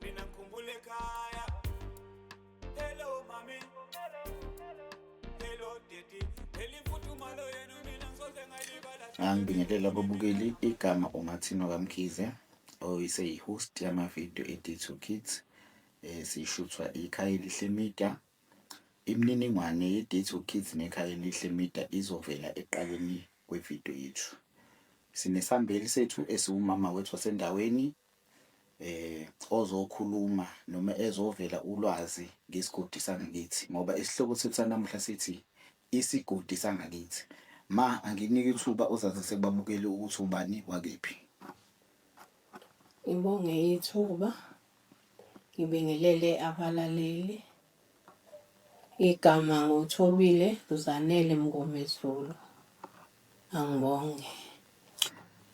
mina ngikhumbule ekhaya hello mami hello daddy phela imfuthumalo yenu mina ngisoze ngalibala angibingelela ababukeli igama umathino kamkhize oyise yi-host yamavidiyo e-d2 kids um sishuthwa ikhaya elihle media imininingwane ye-d2 kids nekhaya elihle media izovela eqaleni kwevidiyo yethu sinesambeli sethu esiwumama wethu wasendaweni eh ozokhuluma noma ezovela ulwazi ngesigodi sangakithi ngoba isihloko sethu sanamuhla sithi isigodi sangakithi. Ma anginike ithuba uzazise kubabukeli ukuthi ubani wakephi. Ngibonge ithuba, ngibingelele abalaleli. Igama nguThobile Zanele Mngomezulu. Angibonge.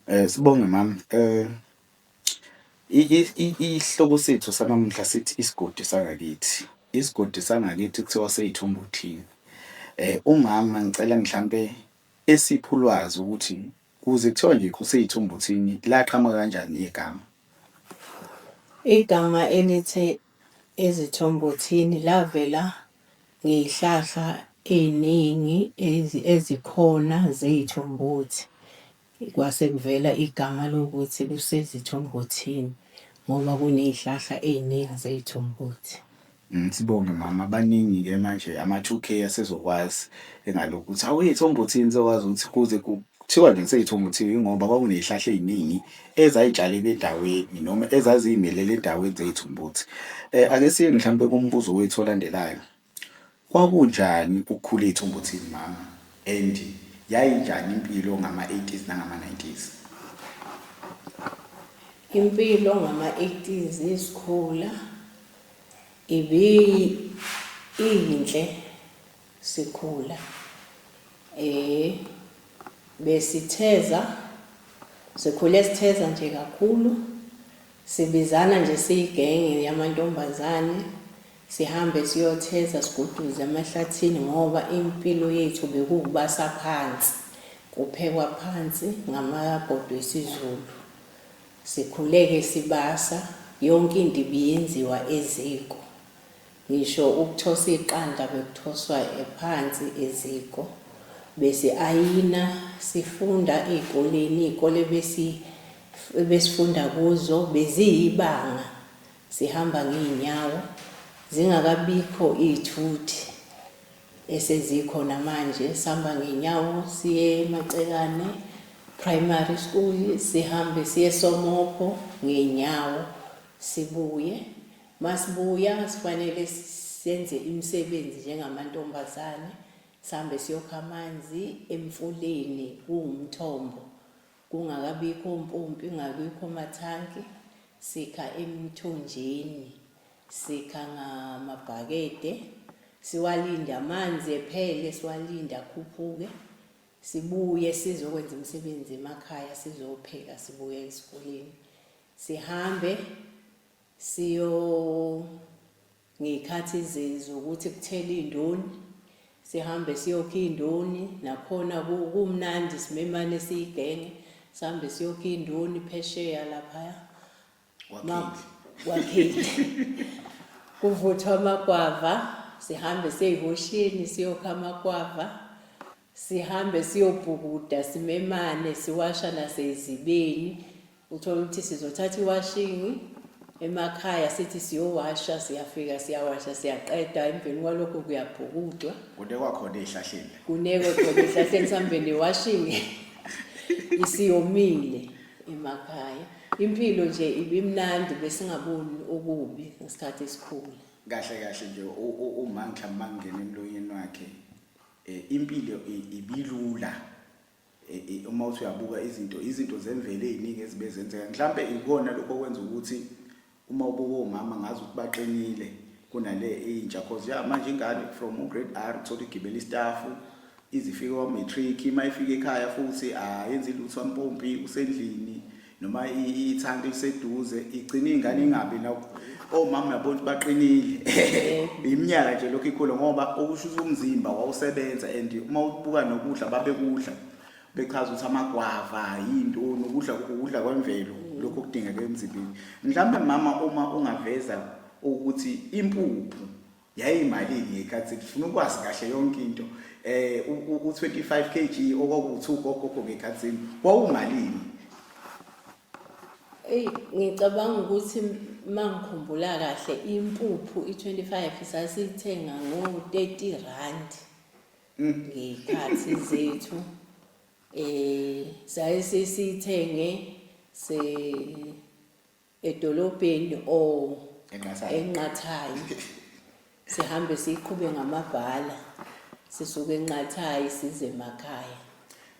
Eh sibonge mama. Eh isihloko sethu sanamuhla sithi isigodi sangakithi. Isigodi sangakithi kuthiwa seyithumba uthini. Eh umama ngicela mhlambe esipha ulwazi ukuthi kuze kuthiwa nje kuseyithumba uthini laqhamuka kanjani igama. Igama elithe Ezithombothini lavela ngey'hlahla ey'ningi ezikhona zey'thombothi. Kwase kuvela igama lokuthi kusezithombothini ngoba kuney'hlahla ey'ningi zey'thombothi. Mm, sibonge mama, baningi ke manje ama-2K asezokwazi engalokhu ukuthi awuyithombothini sokwazi ukuthi kuze kuthiwa nje kuseyithombothini ngoba kwakuney'hlahla ey'ningi ezayitshalela endaweni noma ezaziy'melele endaweni zey'thumbuthi. Ake siye mhlawumpe kumbuzo wethu olandelayo. Kwakunjani ukukhula ey'thumbuthini mama and yayinjani impilo ngama-eighties nangama-nineties? Impilo ngama-eighties sikhula iyinhle. sikhula besitheza sikhule sitheza nje kakhulu sibizana nje siyigenge yamantombazane sihambe siyotheza siguduze amahlathini ngoba impilo yethu bekuwubasa phansi kuphekwa phansi ngamabhodo esiZulu sikhuleke sibasa yonke into ibiyenziwa eziko Ngisho ukuthosa iqanda bekuthoswa phansi eziko. Besi-ayina, sifunda ey'koleni, iy'kole ebesifunda kuzo beziyibanga, sihamba ngey'nyawo, zingakabikho iy'thuthi esezikhona manje. Sihamba ngey'nyawo siye eMacekane Primary School, sihambe siye eSomopho ngey'nyawo, sibuye. Masibuya sifanele senze imisebenzi njengamantombazane, sihambe siyokha amanzi emfuleni kuwumthombo. Kungakabikho ompompi, kungabikho mathanki, sikha emthonjeni, sikha ngamabhakede, siwalinde amanzi ephele, siwalinde akhuphuke, sibuye sizokwenza imisebenzi emakhaya, sizopheka, sibuye esikoleni. Sihambe Siyo ngey'khathi zokuthi kuthele iy'ndoni, sihambe siyokha iy'ndoni, nakhona kumnandi simemane siyigenge, sihambe siyokha iy'ndoni phesheya laphaya. Wakhile. Kuvuthwa amagwava, sihambe siye ehoshini siyokha amagwava. Sihambe siyobhukuda simemane siwasha nasezibeni. Uthola ukuthi sizothatha iwashingi emakhaya sithi siyowasha siyafika siyawasha siyaqeda emveni kwalokho kuyabhukudwa. Kunekwa khona ezihlahleni. Kunekwe khona ezihlahleni sambe newashingi isiyomile emakhaya. Impilo nje ibimnandi besingaboni okubi ngesikhathi esikhulu. Kahle kahle nje uma mhlawumbe mangena emlonyeni wakhe Eh, impilo ibilula eh, eh, uma uthi uyabuka izinto izinto zemvelo eziningi ezibe zenzeka mhlambe ikona lokho okwenza ukuthi uma ubuka omama ngazi ukuthi baqinile kunale intsha cause ya manje ingane from ugrade R uthola igibela istaff izifika kwa-matric uma ifika ekhaya futhi ayenzi lutho ampompi usendlini noma ithanti liseduze igcina ingane ingabi la omama uyabona ukuthi baqinile iminyaka nje lokhu ikhula ngoba okusho ukuthi umzimba wawusebenza and uma ubuka nokudla babekudla bechaza ukuthi amagwava yinto nokudla ukudla kwemvelo lokho kudingeka emzimbeni mhlawumbe mama uma ungaveza ukuthi impuphu yayiyimalini ngeyikhathi ngifuna ukwazi kahle yonke into eh u25 kg okwakuthi ugogogo ngekhathini wawumalini Ey ngicabanga ukuthi mangikhumbula kahle impuphu i25 sasithenga ngo 30 rand mm. ngekhathi zethu eh sayisithenge se edolobheni o Enqathayo. enqathayi sihambe siqhube ngamabhala sisuke enqathayi size emakhaya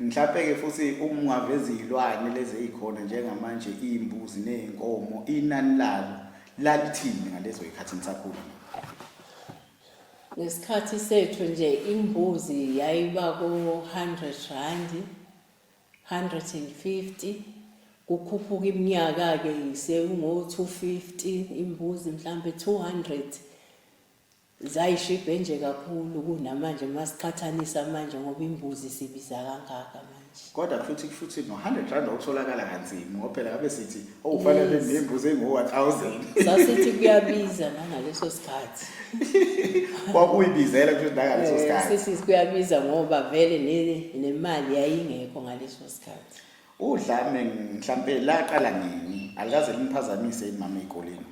Mhlawumbe-ke futhi uma ungaveza izilwane lezi ezikhona njengamanje iy'mbuzi ney'nkomo inani lalo lalithini ngalezo y'khathi nisakhula? ngesikhathi sethu nje imbuzi yayiba ko-100 randi 150 kukhuphuka iminyaka-ke sekungo-250 imbuzi mhlampe 200 zayishibhe nje kakhulu kunamanje uma siqhathanisa manje ngoba imbuzi sibiza kangaka manje kodwa futhi futhi no-100 rand otholakala kanzima ngoba phela ngabe sithi Oh fanele ngimbuze ngo-1000. Sasithi kuyabiza nangaleso sikhathi. Kwakuyibizela kusho nangaleso eh, sikhathi. Sisi kuyabiza ngoba vele nemali yayingekho ngaleso sikhathi. Udlame mhlambe laqala nini? Alikaze limphazamise imama ezikoleni.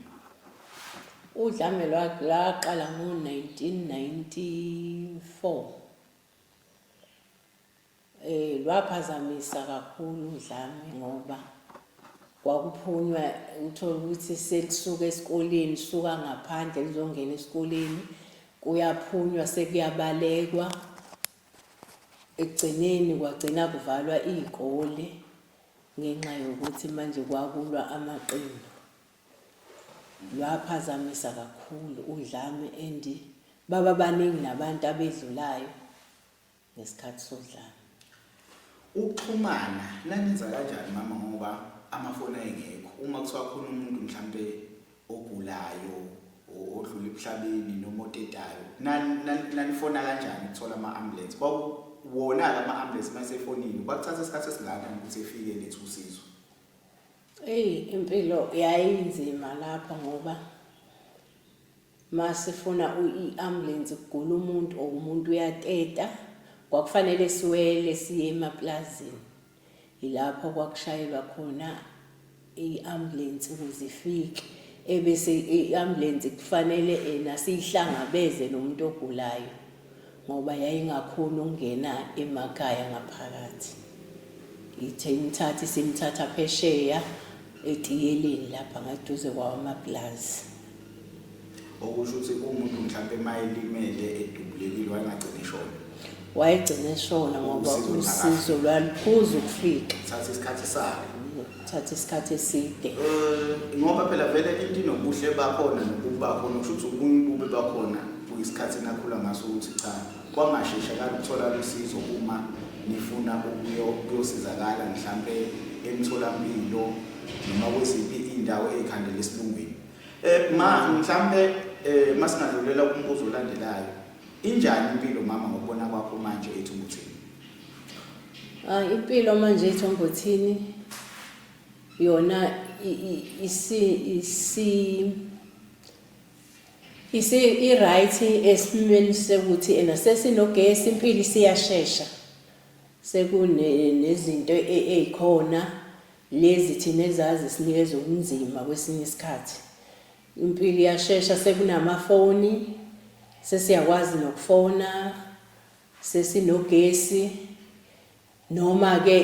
Udlame laqala ngo-1994. Lwaphazamisa kakhulu udlame ngoba kwakuphunywa uthole ukuthi selisuka esikoleni suka ngaphandle lizongena esikoleni kuyaphunywa sekuyabalekwa ekugcineni kwagcina kuvalwa iy'kole ngenxa yokuthi manje kwakulwa amaqembu lwaphazamisa kakhulu udlame and baba baningi nabantu abedlulayo ngesikhathi sodlame. Ukuxhumana nanenza kanjani mama ngoba amafoni ayengekho uma kuthiwa khona umuntu mhlampe ogulayo odlula emhlabeni noma otetayo nanifona kanjani ukuthola ama-ambulance wona-ke ama-ambulance uma esefonile kwakuthatha isikhathi esingakanani ukuthi efike letha usizo eyi impilo yayinzima lapho ngoba Masifuna i ambulance kugula umuntu or umuntu uyateta kwakufanele siwele siye emaplazini yilapho kwakushayelwa khona i-ambulance ukuze ifike ebese i-ambulance kufanele ena siyihlangabeze nomuntu ogulayo ngoba yayingakhoni ukungena emakhaya ngaphakathi. Ithe imthatha isimthatha phesheya etiyeleni lapha ngaduze kwawamapulazi. Okusho ukuthi umuntu mhlawumbe uma elimele edubulekile wayengagcina eshona. Wayegcina eshona ngoba usizo lwaluphuza ukufika. Thatha isikhathi sakhe. thatha isikhathi eside um ngoba phela vele into inobuhle bakhona nobubi bakhona kusho ukuthi ubunye ububi bakhona kuyisikhathi enakhula ngaso ukuthi cha kwangashesha kaluthola lusizo uma nifuna ukuyosizakala mhlampe emtholampilo noma kweziphi iy'ndawo ey'khandela esilungwini um ma mhlampe um masingadlulela kumbuzo olandelayo injani impilo mama ngokubona kwakho manje ethi umuthini Ah, impilo manje ithombothini yona isi isi isi i-right esimweni sekuthi ena sesinogesi impilo isiyashesha sekunezinto e, e, ezikhona lezi thina ezazi sinikeza ubunzima kwesinye isikhathi impilo iyashesha sekunamafoni sesiyakwazi nokufona sesinogesi noma ke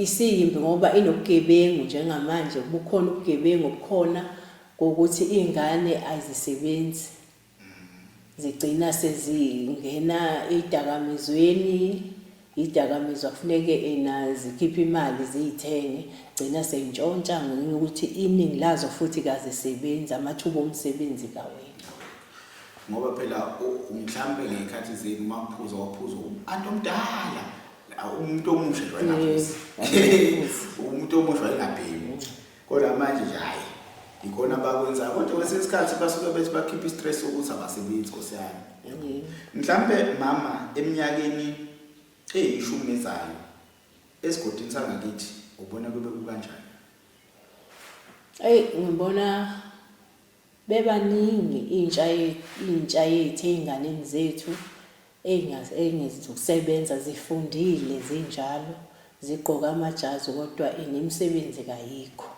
isiyimbi ngoba inobugebengu njengamanje bukhona ubugebengu obukhona kokuthi izingane azisebenzi zigcina sezingena idakamizweni idakamizwa kufuneke ena zikhiphe imali ziyithenge gcina seyintshontsha ngokuthi iningi lazo futhi kazisebenzi amathuba omsebenzi kawena ngoba phela mhlampe ngey'khathi zenu maphuza waphuza anti omdala umuntu omusha nje wayengaphuzi umuntu omusha wayengabhemi kodwa manje nje hhayi yikhona abakwenzayo kodwa kwesinye isikhathi basuke bethi bakhiphe i-stress ukuthi abasebenzi nkosi yami mhlampe mama eminyakeni eyishumi ezayo esigodini sangakithi ubona kube kukanjani eyi ngibona Bebaningi intsha intsha yethu ezinganeni zethu ezingazi zokusebenza zifundile zinjalo zigqoke amajazi kodwa nemisebenzi kayikho.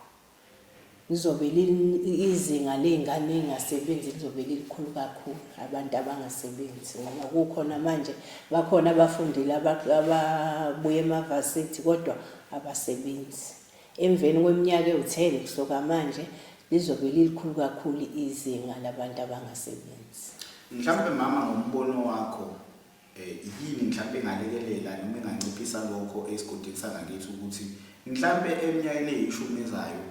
Lizobe izinga lezingane ezingasebenzi lizobe lilikhulu kakhulu abantu abangasebenzi ngoba kukhona manje bakhona abafundile ababuye emavasithi kodwa abasebenzi. Emveni kweminyaka ewu-10 kusoka manje, lizobe lilikhulu kakhulu izinga labantu abangasebenzi. Mhlampe mama ngombono wakho yini mhlampe engalekelela noma enganciphisa lokho esigodini sangakithi ukuthi mhlampe eminyakeni eyishumi ezayo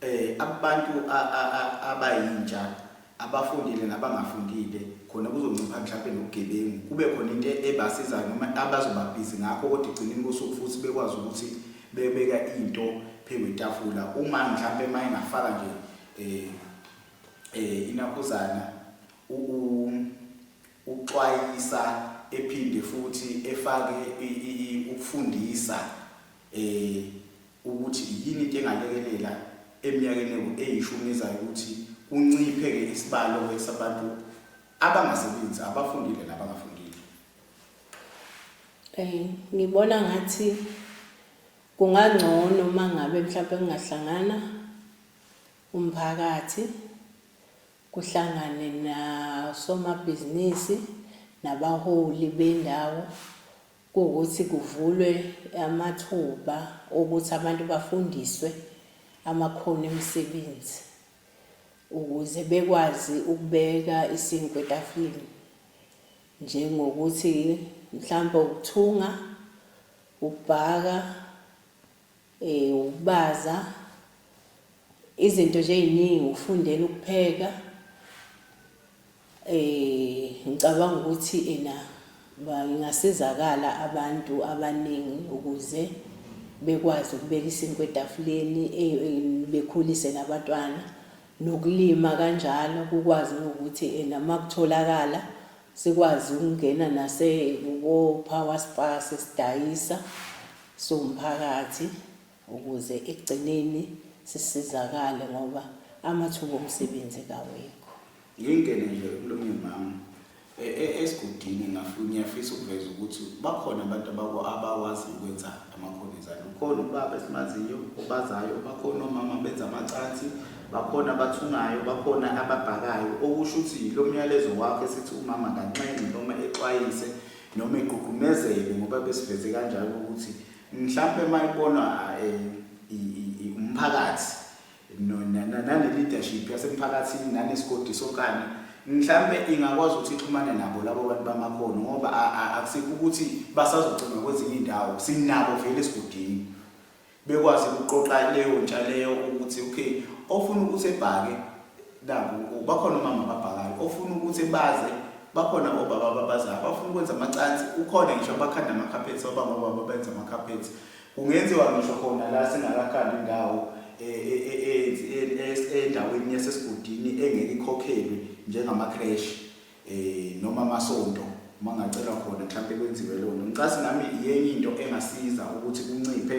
Eh abantu abayintsha abafundile nabangafundile khona kuzoncipha mhlawumbe nobugebengu kube khona into ebasizayo noma abazobabhizi ngakho kodwa igcineni kosuku futhi bekwazi ukuthi bebeka into phezu kwetafula uma mhlawumbe uma engafaka nje eh eh inakhuzana uxwayisa ephinde futhi efake ukufundisa eh, ukuthi yini into engalekelela eminyakeni eyishumi ezayo ukuthi kunciphe-ke isibalo-ke sabantu abangasebenzi abafundile nabangafundile um ngibona ngathi kungangcono uma ngabe mhlawumpe kungahlangana umphakathi kuhlangane nasomabhizinisi nabaholi bendawo kuwukuthi kuvulwe amathuba okuthi abantu bafundiswe amakhono emisebenzi ukuze bekwazi ukubeka isinkwa etafuleni njengokuthi mhlawumbe ukuthunga, ukubhaka. Eh ukubaza izinto nje eziningi ukufundela ukupheka eh ngicabanga ukuthi ena bangasizakala abantu abaningi ukuze bekwazi ukubeka isinkwa etafuleni eh, eh, bekhulise nabatwana nokulima kanjalo kukwazi ukuthi ena makutholakala Sikwazi ukungena nase ko power spars sidayisa siwumphakathi ukuze ekugcineni sisizakale ngoba amathuba omsebenzi kawekho. Ngingene nje ekulumeni mama e, e, esigudini ngiyafisa ukuveza ukuthi bakhona abantu abakwazi ukwenza. amakhonizana ukhona ubaba esimaziyo obazayo bakhona omama benza amacansi bakhona abathungayo bakhona ababhakayo okusho ukuthi lo myalezo wakho esithi umama kanxenxe noma exwayise noma egqugqumezele ngoba besiveze kanjalo ukuthi mhlawumpe uma ibonwa eh, umphakathi no, na, na, nane-leadership yasemphakathini nanesigodi sokani mhlampe ingakwazi ukuthi ixhumane nabo labo bantu bamakhono ngoba akusikho ukuthi basazocinga kwezinye iy'ndawo sinabo vele esigodini bekwazi ukuqoqa leyo ntsha leyo ukuthi okay ofuna ukuthi ebhake naku bakhona omama ababhakayo ofuna ukuthi baze bakhona obaba ababazayo abafuna ukwenza amacansi ukhona ngisho abakhanda amakhaphethi obaba obaba benza amakhaphethi Kungenziwa ngisho khona la singakakhandi indawo endaweni yasesigodini engeke ikhokhelwe njengamakreshi noma amasonto uma ngacelwa khona mhlawumpe kwenziwe lona ngicasi nami iyenye into engasiza ukuthi kunciphe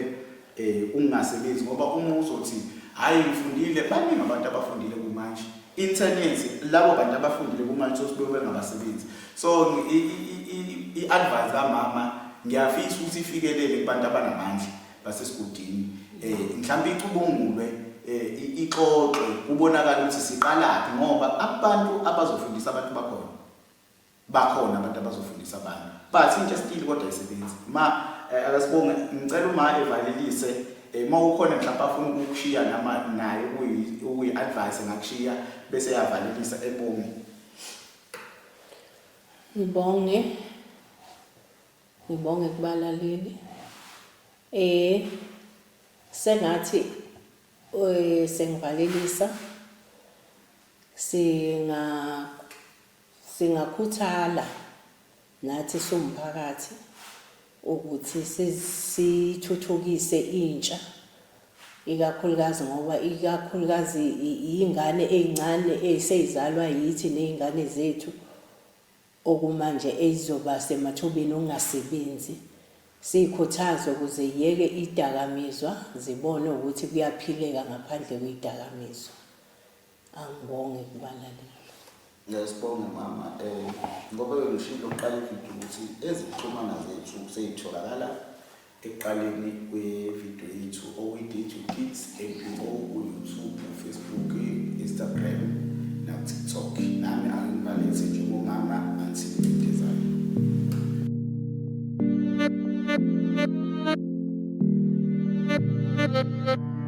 um ukungasebenzi ngoba uma uzothi hhayi ngifundile baningi abantu abafundile kumanje internence labo bantu abafundile kumanje sosibe bengabasebenzi so i-advance kamama ngiyafisa ukuthi ifikelele kubantu abanamandla basesigudini um mhlawumbe icubungulwe um ixoxwe kubonakala ukuthi siqalaphi ngoba abantu abazofundisa abantu bakhona bakhona abantu abazofundisa abantu but into esitile kodwa isebenzi ma eh, akasibonge ngicela uma evalelise eh, uma ukhona mhlawumbe afuna ukukushiya nama naye ukuyi-advise ngakushiya bese yavalelisa ebonge Ngibonge ngibonge kubalaleli eh sengathi eh sengivalelisa singa singakhuthala Nathi siwumphakathi ukuthi sithuthukise intsha ikakhulukazi ngoba ikakhulukazi iy'ngane ey'ncane eseyizalwa yithi ney'ngane zethu okumanje ezizoba semathubeni okungasebenzi siyikhuthaze ukuze yeke idakamizwa zibone ukuthi kuyaphileka ngaphandle kwedakamizwa. Angibonge kubalalela. Ngiyasibonga mama um ngoba bengishilo ukuqala ividiyo ukuthi ezikuxhumana zethu seyitholakala ekuqaleni kwevidiyo yethu okuyi-dj kids npo kuyoutube ufacebook instagram nakutiktok nami angibalise njengomama ansidezayo Thank you.